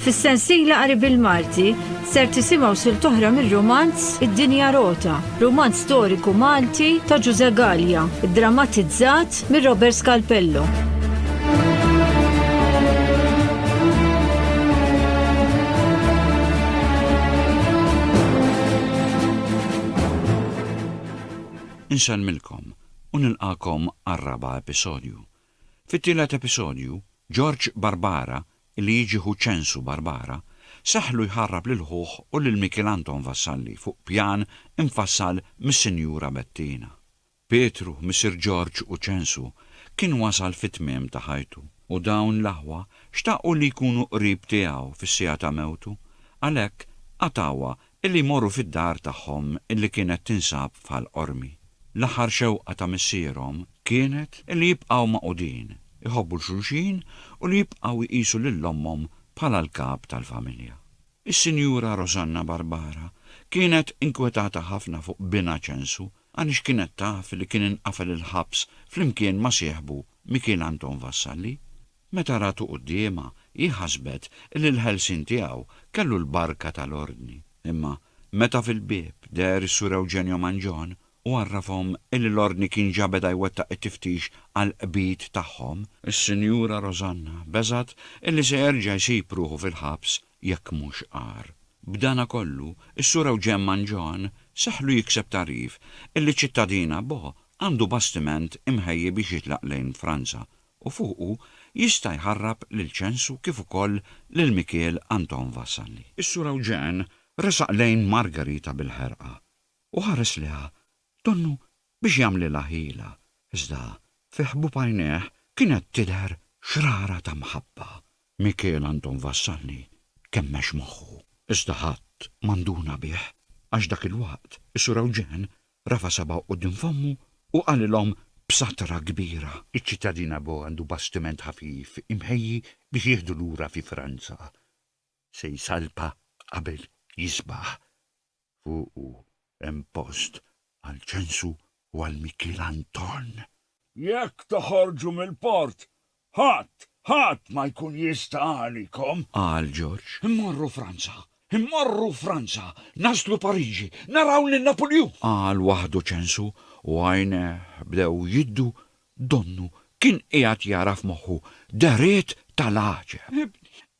Fis-sensiela qari bil-Malti ser tisimgħu sil toħra mir-romanz Id-Dinja Rota, romanz storiku Malti ta' Ġuże Gallia, drammatizzat mir Robert Scalpello. Insellmilkom u nilqagħkom għar-raba' episodju. Fit-tielet episodju, Ġorġ Barbara, li jiġi ħu Ċensu Barbara, seħħlu jħarrab lil ħuh u lil Mikiel Anton Vassalli fuq pjan imfassal mis-Sinjura Bettina. Pietru, missier Ġorġ u Ċensu, kien wasal fit-tmiem ta' ħajtu, u dawn l-aħwa xtaqu li jkunu qrib tiegħu fis-siegħa ta' mewtu, għalhekk qatgħuha Illi jmorru fid-dar tagħhom illi kienet tinsab f'Ħal Qormi. L-aħħar xewqa ta' missierhom kienet illi jibqgħu magħqudin, iħobbu 'l xulxin u li jibqgħu jqisu lil ommhom bħala l-kap tal-familja. Is-Sinjura Rosanna Barbara kienet inkwetata ħafna fuq binha Ċensu għaliex kienet taf li kien inqafel il-ħabs flimkien ma' sieħbu Mikiel Anton Vassalli. Meta ratu quddiemha, hi ħasbet li l-ħelsien tiegħu kellu l-barka tal-Ordni. Imma, meta fil-bieb deher is-Sur Eugenio Mangion u għarrafhom li l-Ordni kien ġa beda jwettaq it-tiftix għall-qbid tagħhom, is-Sinjura Rosanna beżgħet li se jerġa' jsib ruħu fil-ħabs jekk mhux agħar. B'dana kollu, is-Sur Eugen Mangion seħħlu jikseb tagħrif li ċ-ċittadina Bo għandu bastiment imħejji biex jitlaq lejn Franza u fuqu jista' jħarrab lil Ċensu kif ukoll lil Mikiel Anton Vassalli. Is-Sur Ewġen resaq lejn Margarita bil-ħerqa u ħares liha donnu biex jagħmlilha ħila, iżda fi ħbub għajnejh kienet tidher xrara ta' mħabba. Mikiel Anton Vassalli kemmex moħħu, iżda ħadd ma nduna bih għax dak il-waqt is-Sur Ewġen rafa' sabgħu quddiem fommu u qalilhom b'satra kbira. Iċ-ċittadin Ago għandu bastiment ħafif imħejji biex jieħdu lura fi Franza. Se jsalpa qabel jisbaħ. Fuqu hemm post għal Ċensu u għal Mikiel Anton. Jekk toħorġu mill-port, Ħadd, ħadd ma jkun jista' għalikom! qal Ġorġ. Immorru Franza! Immorru Franza! Naslu Pariġi! Naraw lil Napuljun! qal waħdu Ċensu u għajnejh bdew jiddu, donnu kien qiegħed jara f'moħħu dehriet tal-għaġeb.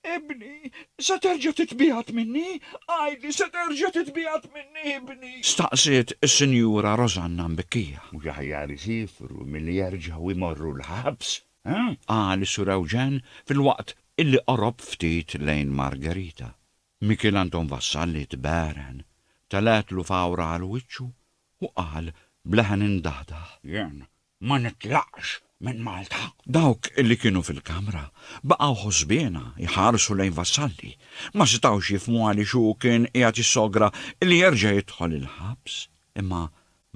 Ibni, se terġa' titbiegħed minni? Għidli, se terġa' titbiegħed minni, ibni? Staqsiet is-Sinjura Rosanna mbikkija. Mhux aħjar isifru milli jerġgħu jmorru l-ħabs, ha? Qal is-Sur Ewġen filwaqt illi qorob ftit lejn Margherita. Mikiel Anton Vassalli tbegħren, telgħetlu fawra għal wiċċu u qal b'leħen imdaħdaħ. Jien Ma nitlaqx minn Malta. Dawk li kienu fil-kamra baqgħu ħosbiena jħarsu lejn Vassalli. Ma setgħux jifhmu għaliex hu kien qiegħed jissogra li jerġa' jidħol il-ħabs. Imma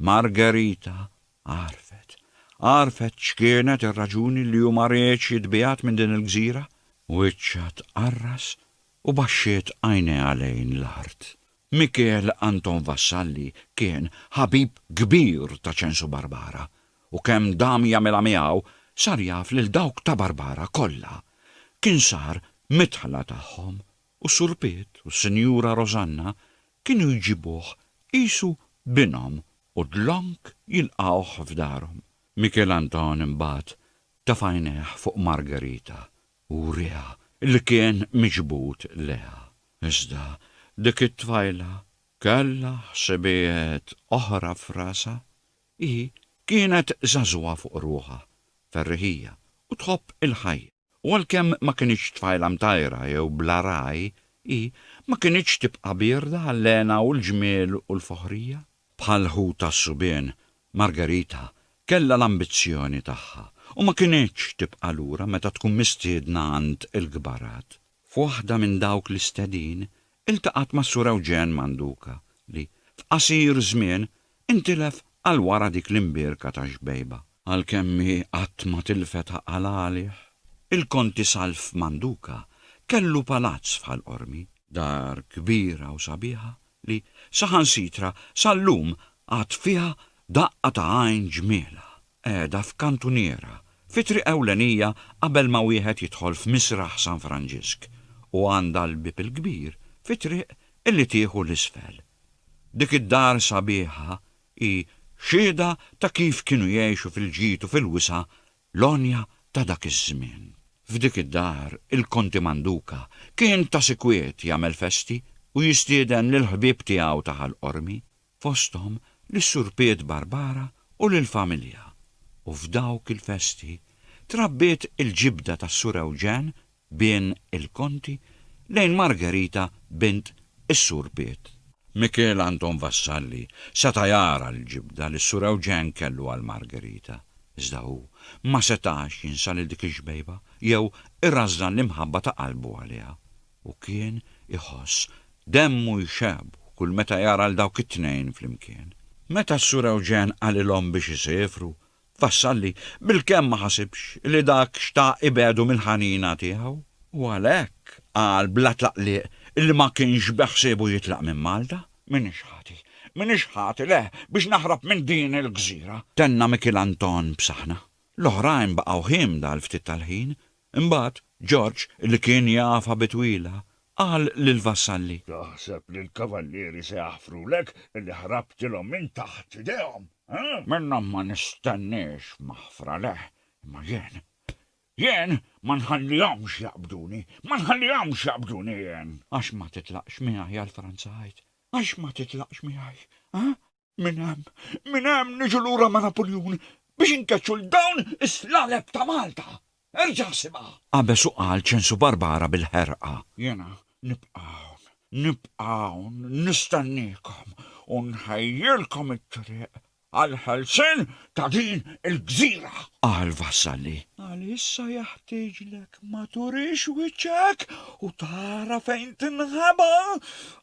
Margherita għarfet. Għarfet x'kienet ir-raġuni li hu ma riedx jitbiegħed minn din il-gżira. Wiċċha tqarras u baxxiet għajnejha lejn l-art. Mikiel Anton Vassalli kien ħabib kbir ta' Ċensu Barbara u kemm dam jagħmilha miegħu sar jaf lil dawk ta' Barbara kollha. Kien sar midħla tagħhom u Sur Piet u s-Sinjura Rosanna kienu jġibuh qisu binhom u dlonk jilqgħuh f'darhom. Mikiel Anton imbagħad ta' f'għajnejh fuq Margherita u wriha li kien miġbud leha. Iżda dik it-tfajla kellha ħsibijiet oħra f'rasha. Hi kienet żagħżugħa fuq ruħha, ferriħija u tħobb il-ħajja, u għalkemm ma kinitx tfajla mtajra jew bla ragħaj, hi ma kinitx tibqa' bierda għall-hena u l-ġmiel u l-foħrija. Bħal ħu tas-subien, Margarita kellha l-ambizzjoni tagħha u ma kinitx tibqa' lura meta tkun mistiedna għand il-kbarat. F'waħda minn dawk l-istedin iltaqgħet mas-Sur Ewġen Manduca li, f'qasir żmien, intilef għal wara dik l-imbierka ta' xbejba. Għalkemm hi qatt ma tilfet għaqal għalih, il-Konti Salv Manduca kellu palazz f'Ħal Qormi, dar kbira u sabiħa li saħansitra sal-lum għad fiha daqqa ta' għajn ġmielha, qiegħda f'kantuniera, fi triq ewlenija qabel ma wieħed jidħol f'Misraħ San Franġisk, u għandha l-bieb il-kbir fi triq illi tieħu 'l isfel. Dik id-dar sabiħa hi xhieda ta' kif kienu jgħixu fil-ġid u fil-wisa' L-għonja ta' dak iż-żmien. F'dik id-dar, il-Konti Manduca kien ta' sikwiet jagħmel festi u jistieden lill-ħbieb tiegħu ta' Ħal Qormi, fosthom lis-Sur Piet Barbara u lill-familja, u f'dawk il-festi trabbiet il-ġibda tas-Sur Ewġen Bejn il-konti, lejn Margherita bint is-Sur Piet. Mikiel Anton Vassalli seta' jara l-ġibda li s-Sur Ewġen kellu għal Margherita, iżda hu ma setax jinsa lil dik ix-xbejba jew irażżan l-imħabba ta' qalbu għaliha, u kien iħoss demmu jxebb kull meta jara 'l dawk it-tnejn flimkien. Meta s-Sur Ewġen qalilhom biex isefru, Vassalli bil-kemm ma ħasibx li dak xtaq ibegħdu mill-ħanina tiegħu u għalhekk qal bla tlaqliq li ma kienx beħsiebu jitlaq minn Malta. M'iniex ħati, m'iniex ħati, le, biex naħrab minn din il-gżira! Tenna Mikiel Anton b'saħna. L-oħrajn baqgħu hiemda għal ftit tal-ħin, Imbagħad, George, li kien jafha bi twila, qal lill-vassalli. Taħseb li l-kavallieri se jaħfrulek illi ħrabtilhom minn taħt idejhom? Minnhom ma nistenniex maħfra, le, imma jien, jien ma nħallihomx jaqbduni, ma nħallihomx jaqbduni jien! Għax ma titlaqx miegħi għal Franza, għid, għax ma titlaqx miegħi, ha? Minn hemm, minn hemm niġu lura ma' Napuljun biex inkeċċu 'l dawn is-slaleb ta' Malta! Erġa' ħsibha! Qabeż u qal ċensu Barbara bil-ħerqa. Jiena nibqa' hawn, nibqa' hawn nistenniekom u nħejjilkom it-triq għall-ħelsien ta' din il-gżira. Qal Vassalli. Għalissa jaħtieġlek ma turix wiċċek u tara fejn tinħaba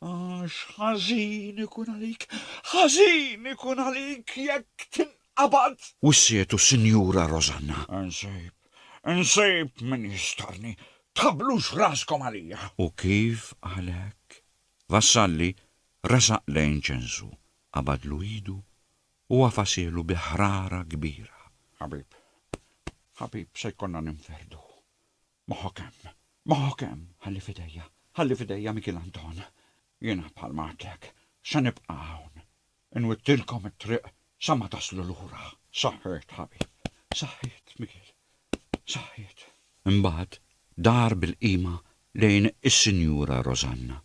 għax ħażin ikun għalik, ħażin ikun għalik jekk tinqabad. Wissietu Sinjura Rosanna. Insib, insib min jistarni, tħablux raskom għalija. U kif għalek? Vassalli resaq lejn ċensu, qabadlu idu u għafasielu bi ħrara kbira. Ħabib, ħabib, se jkollna ninferdu. Moħħok hemm, moħħok hemm, ħalli f'idejja, ħalli f'idejja Mikiel Anton. Jiena bħalma għedtlek, se nibqa' hawn. Inwittilkom it-triq sa ma taslu lura. Saħħiet, ħabib. Saħħiet, Mikiel. Saħħiet. Imbagħad dar bil-qima lejn is-Sinjura Rosanna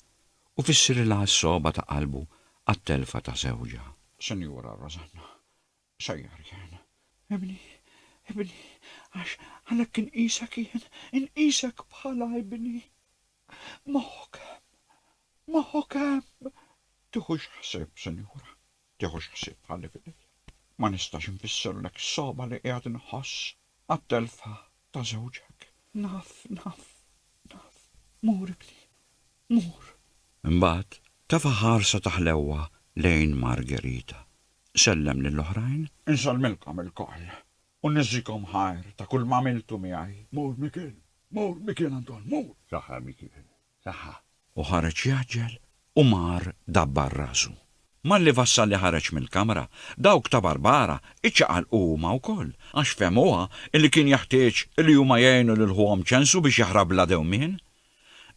u fissirilha s-sogħba ta' qalbu għat-telfa ta' żewġha. Sinjura Rosanna, Sejjer jien. Ibni, ibni, għax għalhekk inqisek jien, inqisek bħala ibni. Moħħok hemm, moħħok hemm. Tiħux ħsieb, Sinjura. tiħux ħsieb bħalli f'idejja. Ma nistax infissirlek is-sogħba li qiegħed inħoss għat-telfa ta' żewġek. Naf, naf, naf. Mur ibni, mur. Imbagħad tefa' ħarsa ta' ħlewwa lejn Margherita. Sellem lill-oħrajn. Insellmilkom ilkoll u niżżikom ħajr ta' kulma għamiltu miegħi. Mur Mikiel, mur Mikiel Anton, mur! Saħħa Mikiel. tagħha. U ħareġ jgħaġġel u mar dabbar rasu. Malli Vassalli ħareġ mill-kamra, dawk ta' Barbara iċċaqalqu huma wkoll, għax fehmuha li kien jeħtieġ li huma jgħinu lil ħuhom Ċensu biex jaħrab bla dewmien.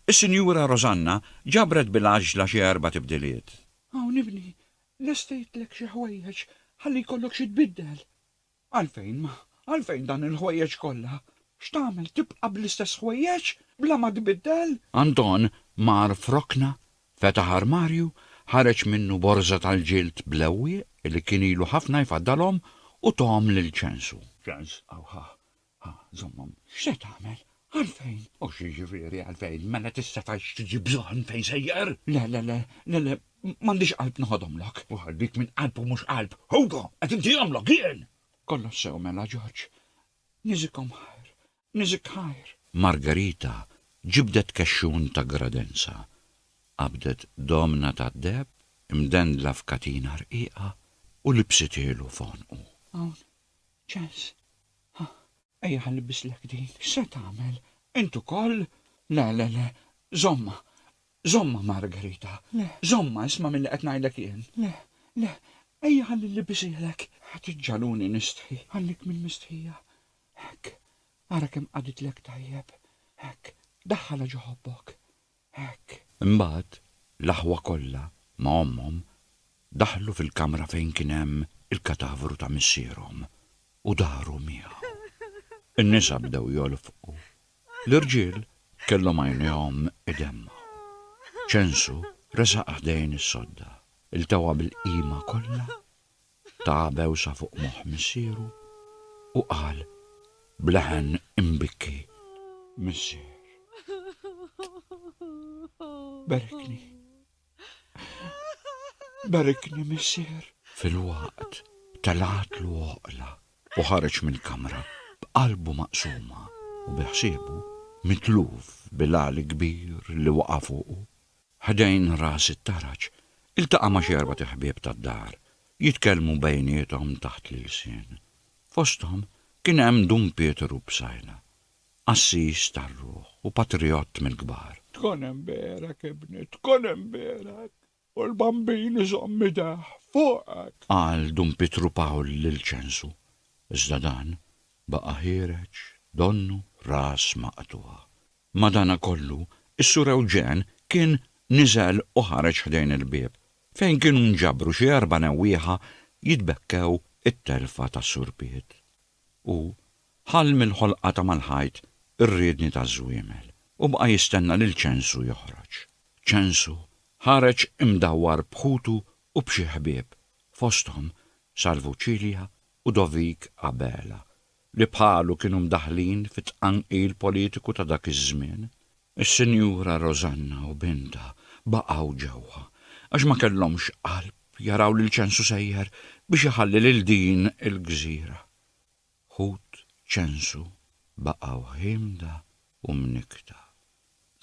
Is-Sinjura Rosanna ġabret bil-għaġġla xi erba' tibdiliet. Hawn ibni, lestejtlek xi ħwejjeġ ħalli jkollok xi tbiddel. Għalfejn, għalfejn dan il-ħwejjeġ kollha? X'tagħmel, tibqa' bl-istess ħwejjeġ, bla ma tbiddel? Anton mar f'rokna, fetaħ armarju, ħareġ minnu borża tal-ġild b'lewwieq li kien ilu ħafna jfaddalhom u tahom lil Ċensu. Ċens, Awħaħ, Ha, żommhom, x'se tagħmel? Għalfejn? U xi jiġifieri għalfejn? Mela tista' tgħid x'tiġi bżonn fejn sejjer? Le, le, le, le, le, m'għandix qalb noħodhomlok. U għal dik minn qalb u mhux qalb, Hugo, qed intihomlok jien! Kollox sew mela, George. Niżikhom ħajr, niżik ħajr. Margarita ġibdet kexxun ta' gradenza, qabdet domna tad-deheb imdendla f'katina rqiqa u libsithielu f'għonqu. Hawn, Ċans? Ħa, ejja ħa nilbislek din. X'se tagħmel? Int ukoll? Le, le, le, żommha. Żommha, Margherita. Le. Żommha, isma' milli qed ngħidlek jien. Le, le, ejja ħalli nlibbisihlek. Ħa tiġġagħluni nistħi. Ħallik minn mistħija. Hekk. Ara kemm qagħditlek tajjeb. Hekk. Daħħalha ġo ħobbok. Hekk, imbagħad, l-aħwa kollha, ma' ommhom, daħlu fil-kamra fejn kien hemm il-katavru ta' missierhom u daru miegħu. In-nisa bdew jolfqu. L-irġiel kellhom għajnejhom idemmgħu. Ċensu resaq ħdejn is-sodda, iltewha bil-qima kollha Ta bewsa fuq moħħ missieru u qal b'leħen imbikki, Missier, barikni, barikni, missier! Filwaqt telgħatlu oqla u ħareġ mill-kamra b'qalbu maqsuma u biħsiebu mitluf bil-għali kbir li waqa' fuqu. Ħdejn ras it-taraġ, iltaqa' ma' xi erbat iħbieb tad-dar, jitkellmu bejniethom taħt l-ilsien. Fosthom kien hemm Dun Pietru Psaila, qassis tar-ruħ u patrijott mill-kbar. Tkun hemm b'għerek, ibni, tkun hemm b'għerek, u l-Bambin iżomm idejh fuqek! Qal Dun Pietru Pawl lil Ċensu, iżda dan baqa' ħiereġ donnu ras maqtugħa. Madanakollu, is-Sur Eugene kien niżel u ħareġ ħdejn il-bieb, fejn kienu nġabru xi erba' newwieħa jitbekkew it-telfa tas-Sur Piet. Hu ħall mill-ħolqa ta' mal-ħajt ir-riedni taż-żwiemel u baqa' jistenna lil Ċensu joħroġ. Ċensu ħareġ imdawwar b'ħutu u b'xi ħbieb, fosthom Salvu Cilia u Dovik Abela, li bħalu kienu mdaħħlin fit-tqanqil politiku ta' dak iż-żmien, is-Sinjura Rosanna u bintha baqgħu ġewwa għax ma kellhomx qalb jaraw lil Ċensu sejjer biex iħalli lil din il-gżira. Ħut Ċensu baqa' wħiemda u mnikkta.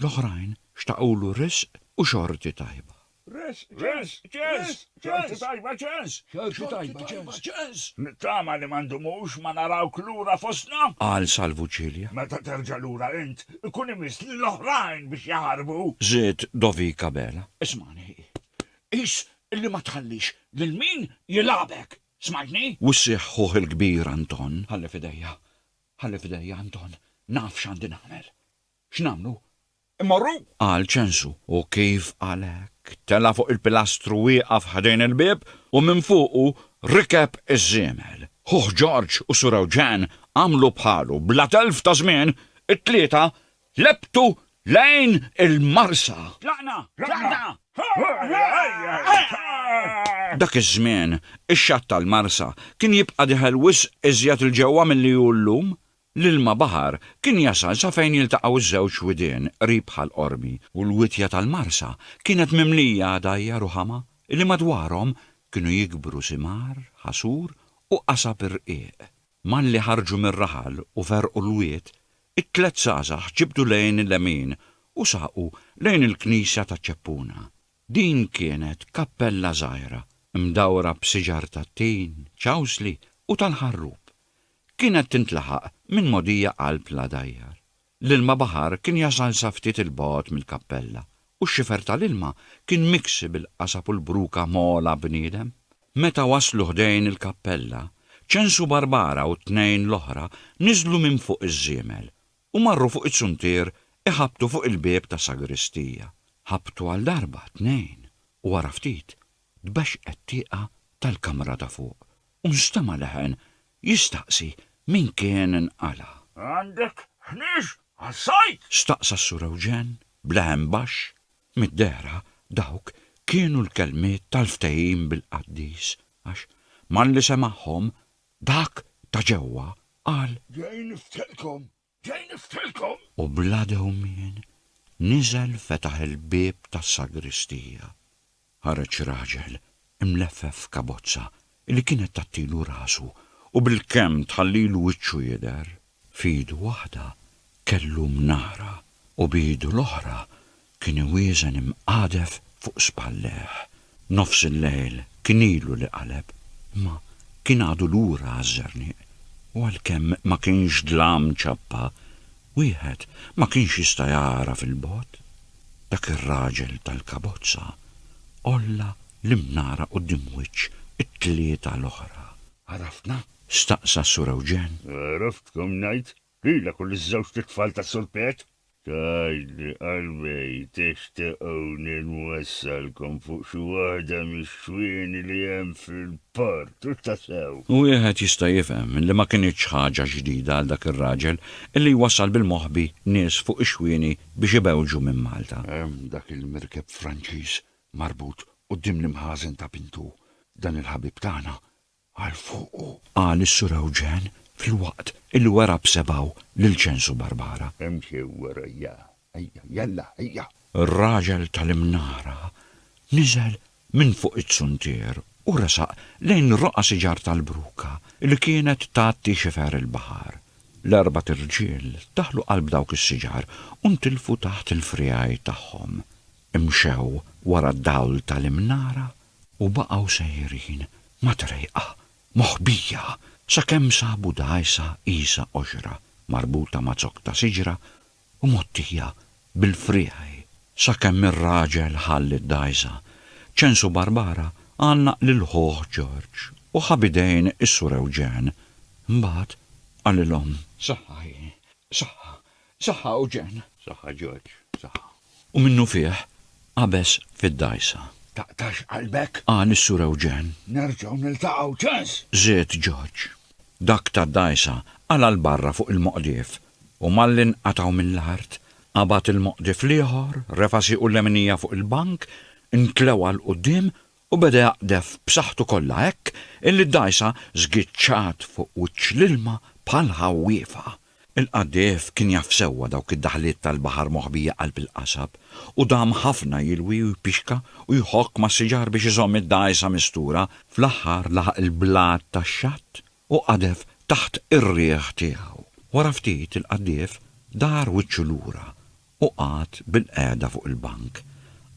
L-oħrajn xtaqulu riżq u xorti tajba. Riżq, riżq, ċens, ċens, xorti tajba, ċens, xorti tajba, ċens, ċens. Nittama li ma ndumux ma narawk lura fostna. Qal Salvu Cilia. Meta terġa' lura int, ikun imiss lill-oħrajn biex jaħarbu. Żied Dovik Abela. Ismagħni hi. Qis li ma tħallix lil min jilgħabek. Smajtni? Wissieħ ħuh il-kbir Anton. Ħalli f'idejja, ħalli f'idejja Anton, naf x'għandi nagħmel. X'nagħmlu? Immorru? Qal Ċensu, u kif qal hekk, tela' fuq il-pilastru wieqaf ħdejn il-bieb u minn fuqu rikeb iż-żiemel. Ħuh Ġorġ u Sur Eugen għamlu bħalu, bla telf ta' żmien, it-tlieta lebtu lejn il-marsa. Tlaqna! Tlaqna! Dak iż-żmien, ix-xatt tal-marsa kien jibqa' diħel wisq iżjed 'l ġewwa milli hu llum. L-ilma baħar kien jasal sa fejn jiltaqgħu ż-żewġ widien qrib bħal qormi, u l-witja tal-marsa kienet mimlija għadajjar u ħama li madwarhom kienu jikbru simar, ħasur u qasab irqiq. Malli ħarġu mir-raħal u ferrqu l-wied, it-tliet żgħażagħ ġibdu lejn il-lemin u saqu lejn il-knisja ta' Ċeppuna. Din kienet kappella żgħira, mdawra b'siġar tat-tin, ċawsli u tal-ħarrub. Kienet tintlaħaq minn mogħdija qalb l-għadajjar. L-ilma baħar kien jasal sa ftit 'il bogħod mill-kappella, u x-xifer tal-ilma kien miksi bil-qasab u l-bruka mgħola bniedem. Meta waslu ħdejn il-kappella, Ċensu Barbara u t-tnejn l-oħra niżlu minn fuq iż-żiemel u marru fuq iz-zuntier iħabbtu fuq il-bieb tas-sagristija. Ħabbtu għal darba, tnejn, u wara ftit Tbexxqet tieqa tal-kamra ta' fuq u nstema' leħen jistaqsi min kien nqala'. Għandek ħniex għas-sajd? Staqsa s-Sur Ewġen b'leħen baxx. Mid-dehra dawk kienu l-kelmiet tal-ftehim bil-qaddis għax malli semagħhom dak ta' ġewwa qal. Ġej niftelkom Ġej niftilkom! U bla dewmien niżel fetaħ il-bieb tas-sagristija. Ħareġ raġel imleffef f'kabozza li kienet tgħattilu rasu u bilkemm tħallilu wiċċu jidher. F'idu waħda kellu mnara u b'idu l-oħra Kien iwieżen imqadef fuq spallejh. Nofs il-lejl kien ilu li qaleb, imma kien għadu lura għaż-Żernieq, u għalkemm ma kienx dlam ċappa, wieħed ma kienx jista' jara fil-bogħod. Dak ir-raġel tal-kabozza għolla l-imnara quddiem wiċċ it-tlieta l-oħra. Għarafna? staqsa s-Sur Ewġen. Għaraftkom ngħid Lilek u liż-żewġt itfal ta' Sur Pet. Tgħidli qalbej, tixtiquni nwassalkom fuq xi waħda mix-xwieni li hemm fil-port, hux tassew? Wieħed jista' jifhem li ma kinitx ħaġa ġdida għal dak ir-raġel illi jwassal bil-moħbi nies fuq ix-xwieni biex ibewġu minn Malta. Hemm dak il-merkeb Franċiż marbut quddiem l-imħażen ta' Pintu, dan il-ħabib tagħna għal fuq hu, qal is-Sur Ewġen filwaqt illi wera b'sebgħu lil Ċensu Barbara. Imxi warajja, ejja, jalla, ejja! Ir-raġel tal-imnara niżel minn fuq iz-zuntier u resaq lejn roqgħa siġar tal-bruka li kienet tgħatti xifer il-baħar. L-erbat irġiel daħlu qalb dawk is-siġar u ntilfu taħt il-friegħi tagħhom. Imxew wara d-dawl tal-imnara U baqgħu sejrin ma' trejqa, moħbija, sakemm sabu dgħajsa qisha qoxra marbuta ma' zokk ta' siġra u mgħottija bil-friegħi sakemm ir-raġel ħalli d-dgħajsa. Ċensu Barbara għannaq lil ħuh Ġorġ u ħa b'idejn is-Sur Ewġen. Imbagħad qalilhom. Saħħa hi, saħħa, Saħħa Eugen. Saħħa George, saħħa. U minnufih qabeż fid-dgħajsa. Taqtax qalbek? Qal is-Sur Eugen. Nerġgħu niltaqgħu, ċans! Żied George. Dak tad-dgħajsa qala' 'l barra fuq il-moqdif u malli nqatgħu mill-art, qabad il-moqdif l-ieħor, refa' siequ l-leminija fuq il-bank, intlewa 'l quddiem u beda jaqdef b'saħħtu kollha hekk illi d-dgħajsa żgiċċat fuq wiċċ l-ilma bħal ħawwiefa. Il-qaddejf kien jaf sewwa dawk id-daħliet tal-baħar moħbija qalb il-qasab u dam ħafna jilwi u jpixka u jħokk mas-siġar biex iżomm id-dgħajsa mistura, fl-aħħar laħaq il-blat tax-xatt u qadef taħt ir-riħ tiegħu. Wara ftit il-qaddif dar wiċċu lura u qagħad bilqiegħda fuq il-bank.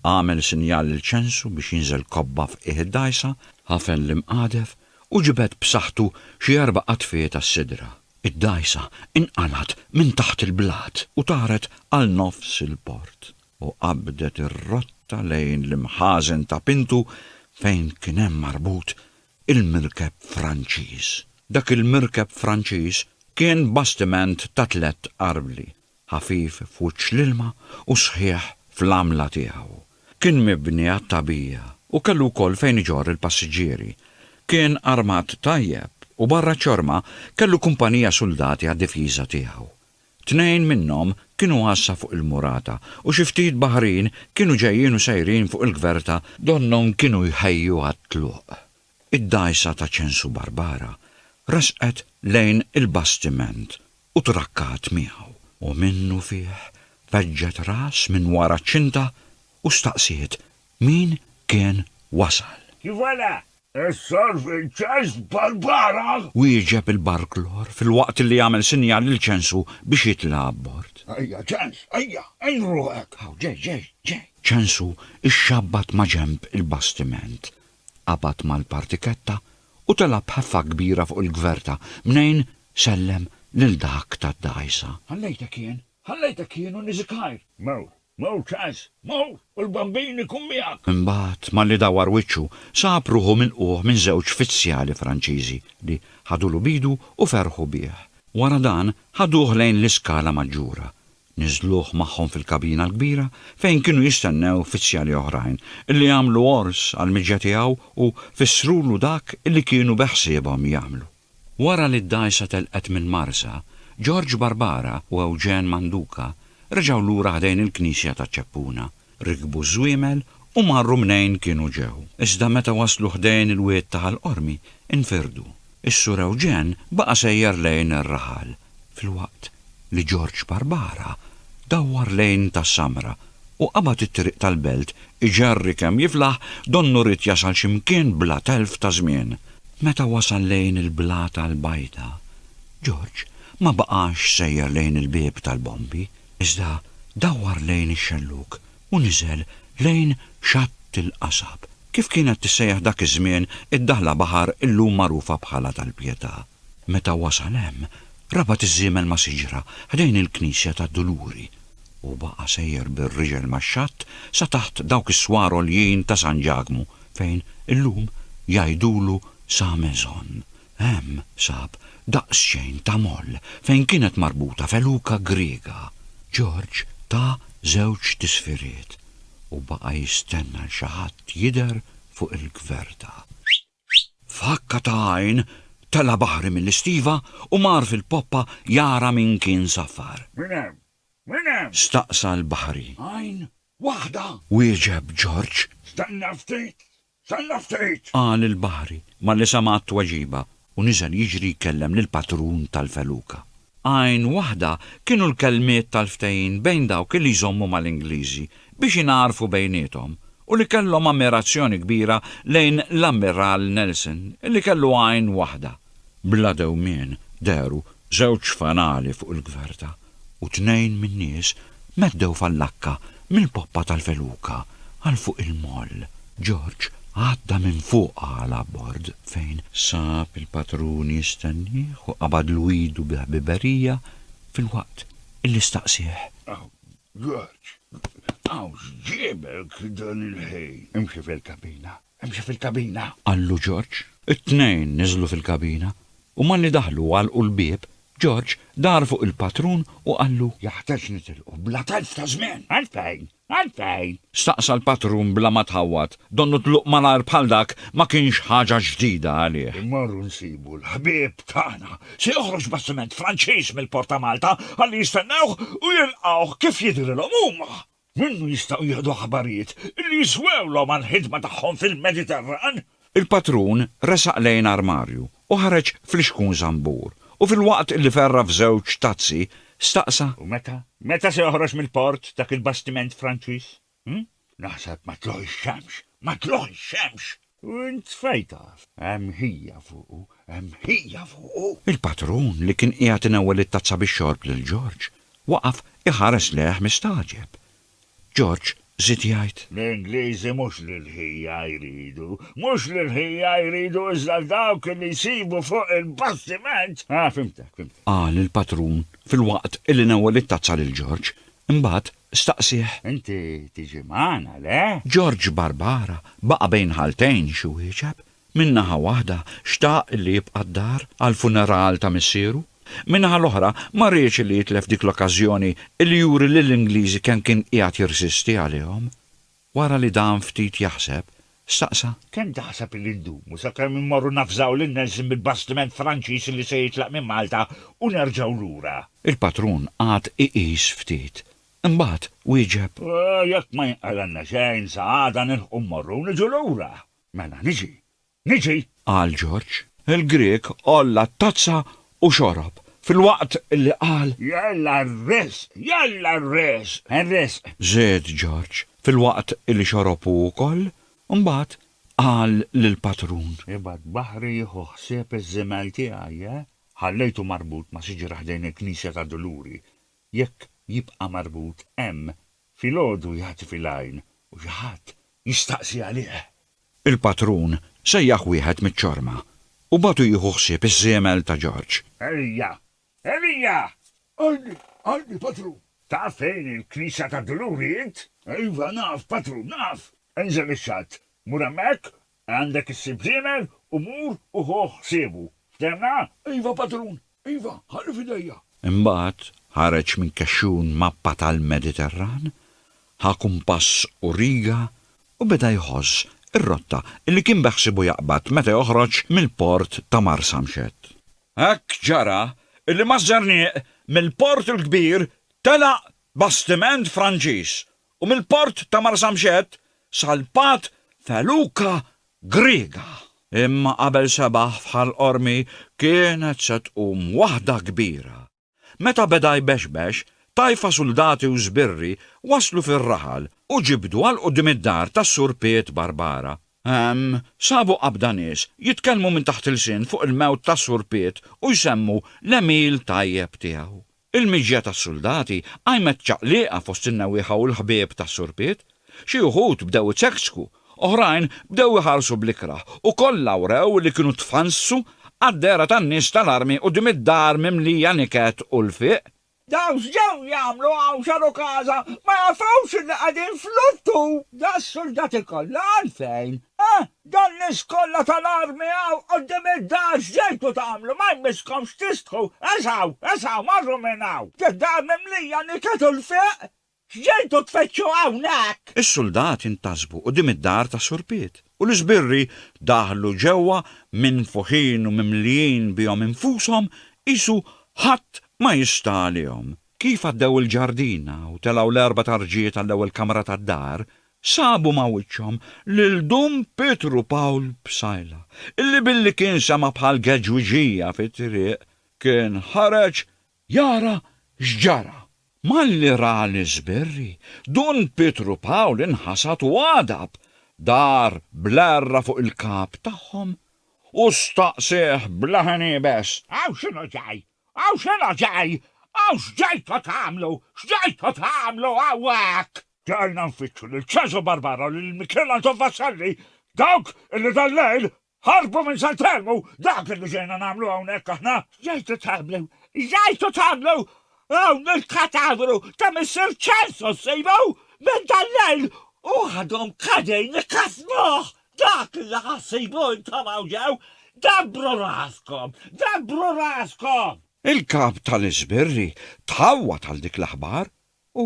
Għamel sinjal lil Ċensu biex jinżel kobba f'qiegħ id-dgħajsa, ħafen l-imqadef u ġibed b'saħħtu xi erba' qadfiet għas-sidra. Id-dgħajsa inqalgħet minn taħt il-blat u taret għal nofs il-port u qabdet ir-rotta lejn l-imħażen ta' Pintu fejn kien hemm marbut il-mirkeb Franċiż. Dak il-mirkeb Franċiż kien bastiment ta' tlett arvli, ħafif f'wiċċ l-ilma u sħiħ fl-għamla tiegħu. Kien mibni għat-tagħbija u kellu wkoll fejn iġorr il-passiġġieri. Kien armat tajjeb u barra ċ-ċorma kellu kumpanija suldati għad-difiża tiegħu. Tnejn minnhom kienu għassa fuq il-murata u xi ftit baħrin kienu ġejjin u sejrin fuq il-gverta donnhom kienu jħejju għat-tluq. Id-dgħajsa ta' Ċensu Barbara resqet lejn il-bastiment u trakkat miegħu u minnufih feġġet ras minn wara ċ-ċinta u staqsiet min kien wasal. Voilà! Is-Survey Ċens Barbara! Wieġeb il-Barklor filwaqt li jagħmel sinjal lil Ċensu biex jitla' abbord. Ejja, Ċens, ejja, għin ruħek! Hawn, ġej, ġej, ġej! Ċensu xxabbat ma' ġenb il-bastiment, qabad mal-partiketta u tela' b'ħeffa kbira fuq il-gverta mnejn sellem lil dak tad-dgħajsa. Ħallejtek jien, ħallejtek jien u niżikgħir! Mewt, Mur Charles, mur, u l-Bambin ikun miegħek! Imbagħad, malli dawwar wiċċu, sab ruħu milqugħ minn żewġ fizzjali Franċiżi li ħadulu b'idu u ferħu bih. Wara dan, ħaduh lejn l-iskala maġġura. Niżżluh magħhom fil-kabina l-kbira fejn kienu jistennew fizzjali oħrajn li għamlu għors għall-miġja tiegħu u fissrulu dak li kienu beħsiebhom jagħmlu. Wara li d-dgħajsa telqet minn Marsa, Ġorġ Barbara u Ewġen Manduca reġgħu lura ħdejn il-knisja ta' Ċeppuna, rikbu ż-żwiemel u marru mnejn kienu ġew. Iżda meta waslu ħdejn il-wied ta' Ħal Qormi, infirdu. Is-Sur Ewġen baqa' sejjer lejn ir-raħal Filwaqt li George Barbara dawwar lejn Tas-Samra u qabad it-triq tal-Belt iġerri kemm jiflaħ, donnu ried jasal xi mkien bla telf ta' żmien. Meta wasal lejn il-Blata l-Bajda, George ma baqax sejjer lejn il-Bieb tal-Bombi, iżda dawwar lejn ix-Xellug u niżel lejn Xatt il-Qasab, kif kienet tissejjaħ dak iż-żmien id-daħla baħar illum magħrufa bħala tal-Pietà. Meta wasal hemm, rabat iż-żiemel ma' siġra ħdejn il-knisja tad-Duluri, u baqa' sejjer bir-riġel max-xatt sa taħt dawk is-swar għoljin ta' San Ġakmu fejn, illum, jgħidulu Sa Maison. Hemm sab daqsxejn ta' moll fejn kienet marbuta feluka Griega. Ġorġ ta żewġ tisfiriet u baqa' jistenna 'l xi ħadd jidher fuq il-gverda. F'ħakka ta' għajn, tela' Baħri mill-istiva u mar fil-poppa jara min kien saffar. Min hemm? Min hemm? Staqsa l-Baħri. Għajn waħda! Wieġeb Ġorġ. Stenna ftit! Stenna ftit! Qal il-Baħri malli sema' t-tweġiba u niżel jiġri jkellem lill-patrun tal-feluka. Għajn waħda kienu l-kelmiet tal-ftehim bejn dawk li jżommu mal-Ingliżi biex ingħarfu bejniethom u li kellhom ammirazzjoni kbira lejn l-Ammiral Nelson li kellu għajn waħda. Bla dewmien dehru żewġ fanali fuq il-gverta u tnejn min-nies meddew fal-lakka mill-poppa tal-feluka għal fuq il-moll. George għadda minn fuqha għal abbord fejn sab il-patrun jistennieh u qabadlu idu bi ħbiberija filwaqt illi staqsieh. Aw, George, aw x'ġiebek dan il-ħin? Imxi fil-kabina, imxi fil-kabina! Qallu George. It-tnejn niżlu fil-kabina u malli daħlu u għalqu l-bieb, George dar fuq il-patrun u qallu. Jeħtieġ nitilqu bla telf ta' żmien! Għalfejn? Għalfejn? Staqsa l-patrun bla ma tħawwad. Donnu tluq malajr bħal dak ma kienx ħaġa ġdida għalih. Immorru nsibu l-ħbieb tagħna. Se joħroġ bastiment Franċiż mill-port ta' Malta ħalli jistennewh u jilqgħuh kif jidhrilhom huma. Minnu jistgħu jieħdu aħbarijiet li jiswewlhom għall-ħidma tagħhom fil-Mediterran. Il-patrun resaq lejn armarju u ħareġ flixkun żambur u filwaqt li ferra f'żewġ tazzi, staqsa. U meta, meta se joħroġ mill-port dak il-bastiment Franċiż? Hm? Naħseb ma tlugħ ix-xemx! Ma tlugħ ix-xemx! U int fejn taf? Hemm ħija fuqu, hemm ħija fuqu! Il-patrun li kien qiegħed inewwel it-tazza bix-xorb lil Ġorġ, waqaf iħares lejh mistagħġeb. George żied jgħid. L-Ingliżi mhux lill-ħija jridu. Mhux lill-ħija jridu iżda dawk li jsibu fuq il-bastiment. Ah, fhimtek, fhimtek. Qal il-patrun filwaqt li nawwel it-tazza lil George. Imbagħad staqsieh. Inti tiġi magħna, le? George Barbara baqa' bejn ħaltejn x'jwieġeb. Minn naħa waħda xtaq li jibqa' d-dar għall-funeral ta' missieru, min-naħa l-oħra ma riedx li jitlef dik l-okkażjoni li juri lill-Ingliżi kemm kien qiegħed jirsisti għalihom. Wara li dam ftit jaħseb, staqsa. Kemm taħseb li ndumu sakemm immorru navżaw lil Nelson bil-bastiment Franċiż li se jitlaq minn Malta u nerġgħu lura? Il-patrun qagħad iqis ftit. Imbagħad wieġeb. Jekk ma jinqalgħalna xejn sa għada nilħqu mmorru u niġu lura. Mela niġi, niġi! qal Ġorġ. Il-Grieg għolla t-tazza u xorob, filwaqt li qal. Jalla r-risq, jalla r-risq, ir-risq! Żied Ġorġ, filwaqt li xorob hu wkoll, imbagħad qal lill-patrun. Ibgħad baħri jieħu ħsieb iż-żiemel tiegħi, eh? Ħallejtu marbut ma' siġra ħdejn il-knisja ta' Duluri. Jekk jibqa' marbut hemm, Filgħodu jagħti fil-għajn u xi ħadd jistaqsi għalih. Il-patrun sejjaħ wieħed miċ-ċorma u bagħtu jieħu ħsieb iż-żiemel ta' Ġorġ. Elija! Elija! Għajni, għajni, patrun! Taf fejn il-knisja tad-Duluri int? Iva, naf, patrun, naf! Enżel ix-xatt, mur hemmhekk Għandek issib żiemel u mur u ħu ħsiebu. Ftemna? Iva, patrun. Iva, ħalli f'idejja. Imbagħad ħareġ minn kexxun mappa tal-Mediterran, ħa kumpass u riga u beda jħożż ir-rotta li kien beħsiebu jaqbad meta joħroġ mill-port ta' Marsamxett. Hekk ġara li maż-żernieq mill-Port il-Kbir telaq bastiment Franċiż u mill-port ta' Marsamxett salpat feluka Griega. Imma qabel sebaħ f'Ħal Qormi kienet se tqum waħda kbira. Meta beda jbexbex, tajfa suldati u żbirri waslu fir-raħal u ġibdu għal quddiem id-dar tas-Sur Piet Barbara. Hemm sabu qabda nies jitkellmu minn taħt ilsien fuq il-mewt tas-Sur Piet u jsemmu l-għemil tajjeb tiegħu. Il-miġja tas-suldati qajmet ċaqliqa fost in-newwieħa u l-ħbieb ta' Sur Piet. Xi wħud bdew iċekċku, oħrajn bdew iħarsu bl-ikrah u kollha wrew li kienu tfannsu għad-dehra tan-nies tal-armi quddiem id-dar mimlija niket u lfiq. Dawk x'ġew jagħmlu hawn xaru każa, ma jafux li qegħdin f'luttu! Daqs-suldati kollha għalfejn, eh? Dan nies kollha tal-armi hawn quddiem id-dar x'ġejtu tagħmlu? Ma jmisskomx tistħu! Eżaw! Eżaw! Morru minn hawn! Id-dar mimlija niket u lfiq! X'ġejtu tfittxu hawnhekk? Is-suldati ntasbu quddiem id-dar tas-surpiet u l-isbirri daħlu ġewwa minfuħin u mimlijin bihom infushom qisu ħadd ma jista' għalihom. Kif għaddew il-ġardina u telgħu l-erbat arġiet għall-ewwel kamra tad-dar, Sabu ma' wiċċhom lil Dun Pietru Pawl Psaila, illi billi kien sema' bħal geġwiġija fit-triq, kien ħareġ jara x'ġara. Malli ra l-iżbirri, Dun Pietru Pawl inħasad u għadab, dar bl-għerra fuq il-kap tagħhom u staqsieh b'leħen iebes. Hawn x'inhu ġej? Hawn x'inhu ġej? Hawn x'ġejtu tagħmlu? X'ġejtu tagħmlu hawnhekk? Dehqna nfittxu lil Cesò Barbara u lil Michele Anton Vassalli, dawk illi dal-lejl ħarbu minn San Telmu! Dak illi ġejna nagħmlu hawnhekk aħna! X'ġejtu tagħmlu? X'ġejtu tagħmlu hawn il-katavru ta' Missier Cesò ssibu minn dal-lejl u għadhom qegħdin ikkassnuh! Dak illi ħa ssibu intom hawn ġew, dabbru raskom! Dabbru raskom! Il-Kap tal-Iżbirri tħawwad għal dik l-aħbar U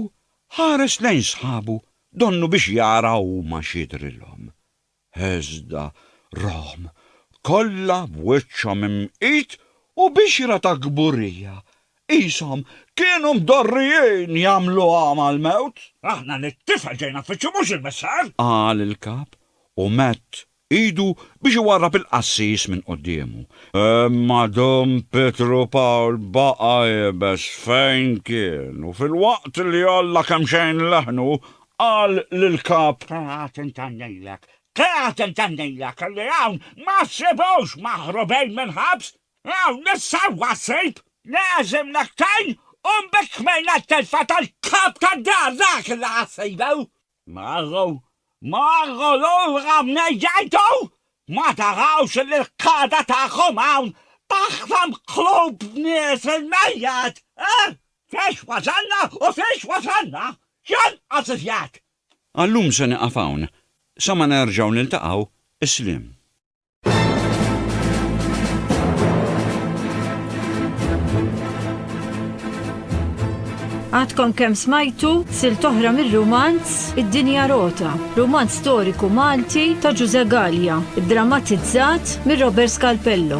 ħares lejn sħabu donnu biex jara huma x'jidhrilhom. Iżda rahom kollha b'wiċċhom imqit u bixra ta' kburija, qishom kienu mdorrijin jagħmlu għama l-mewt. Aħna lit-tifel ġejna nfittxu mhux il-missar! Qal il-kap u medd idu biex iwarrab il-qassis minn quddiemu. Imma dum Pietru Pawl baqa' iebes fejn kien u filwaqt li għolla kemxejn leħnu, qal lill-kap. Qiegħed intennilek, qiegħed intennilek li hawn ma ssibux maħrubin mill-ħabs! Hawn is-sewwa ssib! L-għeżiem nektgħin u mbikkmejna t-telfa tal-kap tad-dar dak li ħa ssibu! Marru, marru lura mnejn jgħidu, Ma tarawx li l-qagħda tagħkom hawn taħtam qlub nies il-mejjet, eh? Fiex wasalna u fiex wasalna! Jonqos iżjed! Għal-lum se nieqaf hawn, sa ma nerġgħu niltaqgħu, isliem. Għadkom kemm smajtu sil toħra mir-rumanz Id-Dinja Rota, rumanz storiku Malti ta' Ġuże Gallia, drammatizzat mir Robert Scalpello.